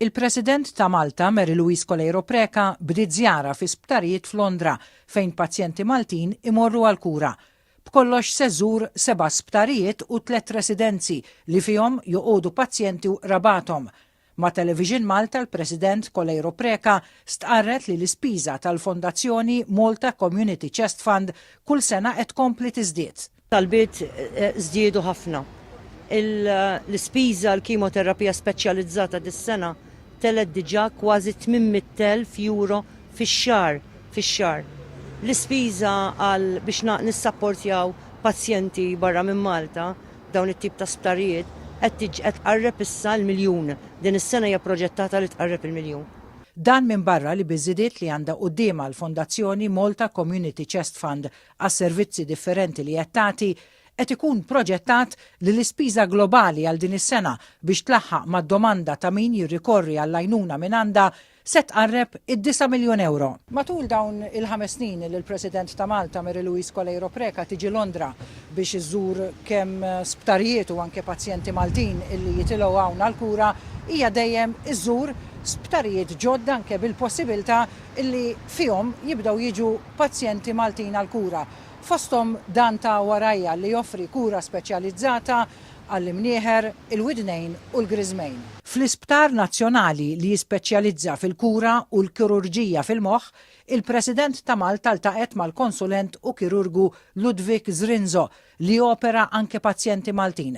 Il-President ta' Malta, Mary Louise Coleiro Preca, bdiet żjara fi sptarijiet f'Londra fejn pazjenti Maltin imorru għall-kura. B'kollox se żżur seba' sptarijiet u tliet residenzi li fihom joqogħdu pazjenti u qrabathom. Ma' Television Malta l-President Coleiro Preca stqarret li l-ispiża tal-Fondazzjoni Malta Community Chest Fund kull sena qed tkompli tiżdied. Talbiet żdiedu ħafna. L-ispiża għall-kimoterapija speċjalizzata dis-sena telgħet diġà kważi 800,000 euro fix-xahar fix-xahar. L-ispiża għal biex nissapportjaw pazjenti barra minn Malta f'dawn it-tip ta' sptarijiet qed qed tqarreb issa l-miljun. Din is-sena hija proġettata li tqarreb il-miljun. Dan minbarra li biż-żidiet li għandha quddiemha l-Fondazzjoni Malta Community Chest Fund għas-servizzi differenti li qed tagħti, qed ikun proġettat li l-ispiża globali għal din is-sena biex tlaħħaq mad-domanda ta' min jirrikorri għall-għajnuna mingħandha se tqarreb id-disa' miljun ewro. Matul dawn il-ħames snin li l-President ta' Malta, Mary Louise Coleiro Preca tiġi Londra biex iżżur kemm sptarijiet u anke pazjenti Maltin illi jitilgħu hawn għall-kura, hija dejjem iżżur sptarijiet ġodda anke bil-possibilità illi fihom jibdew jiġu pazjenti Maltin għall-kura, fosthom dan ta' warajja li joffri kura speċjalizzata għall-imnieħer, il-widnejn u l-griżmejn. Fl-Isptar Nazzjonali li jispeċjalizza fil-kura u l-kirurġija fil-moħħ, il-President ta' Malta ltaqgħet mal-konsulent u kirurgu Ludwig Zrinzo li jopera anke pazjenti Maltin.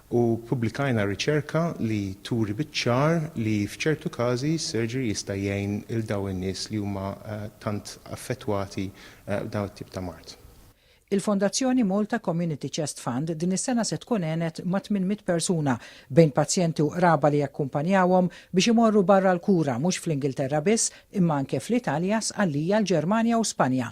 u ppubblikajna riċerka li turi biċ-ċar li f'ċertu każi s-surgery jista' jgħin 'il dawn in-nies li huma tant affettwati b'dan it-tip ta' mard. Il-Fondazzjoni Malta Community Chest Fund din is-sena se tkun għenet ma' tmien mitt persuna, bejn pazjenti u qraba li jakkumpanjawhom, biex imorru barra l-kura mhux fl-Ingilterra biss, imma anke fl-Italja, Sqallija, l-Ġermanja u Spanja.